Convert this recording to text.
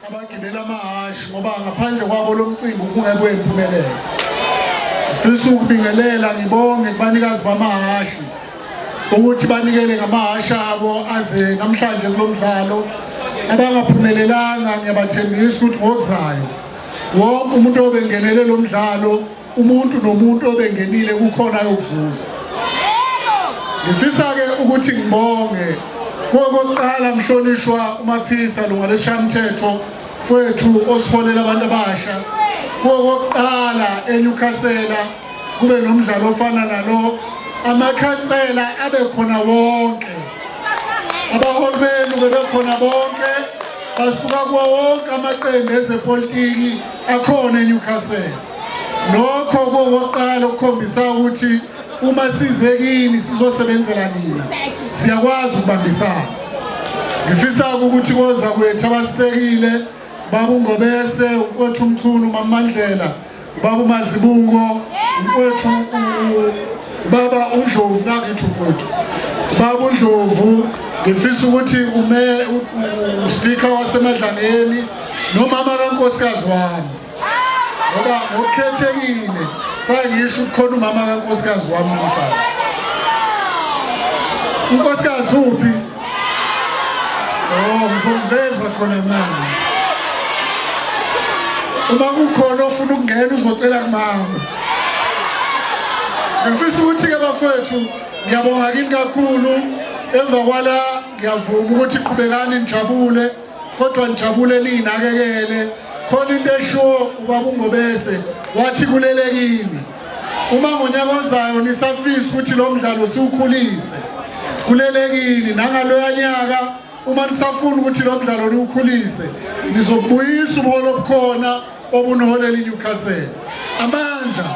abagibela amahhashi ngoba ngaphandle kwabo lo mcimbi ubungekwe impumelelo ngifisa ukubingelela ngibonge kubanikazi bamahhashi ukuthi banikele ngamahhashi abo aze namhlanje kulo mdlalo abangaphumelelanga ngiyabathembisa ukuthi ngokuzayo wonke umuntu obengenele lo mdlalo umuntu nomuntu obengenile kukhona ayokuzuza ngifisa-ke ukuthi ngibonge kokokuqala mhlonishwa umaphisa lunga lesishamthetho kwethu osiholela abantu abasha kokokuqala enyukhasela kube nomdlalo ofana nalo amakhansela abe khona wonke abaholi benu bebekhona bonke basuka kuwo wonke amaqembu ezepolitiki akhona enyukhasela Lokho kowokuqala ukukhombisa ukuthi uma size kini sizosebenzela nina. Siyakwazi ukubambisana. Ngifisa ukuthi koza kwethu abasekile babungobese ukwethu umchunu mamandlela babu mazibungo ukwethu baba undlovu nakithi ukwethu baba undlovu ngifisa ukuthi ume uspeaker wasemadlangeni nomama kankosikazi wami ngoba ngokukhethekile fake ngisho ukukhona umama kankosikazi wami umfana unkosikazi uphi oh ngizomveza khona mama uma kukhona ofuna ukungena uzocela kumama ngifisa ukuthi-ke bafowethu ngiyabonga kini kakhulu emva kwala ngiyavuma ukuthi qhubekani nijabule kodwa nijabule ninakekele khona into eshiwo ubaba ungobese wathi kulelekini uma ngonyaka ozayo nisafisa ukuthi lo mdlalo siwukhulise kulelekini nangaloya nyaka uma nisafuna ukuthi lo mdlalo niwukhulise nizokubuyisa ubuholo obukhona obunoholela iNewcastle amandla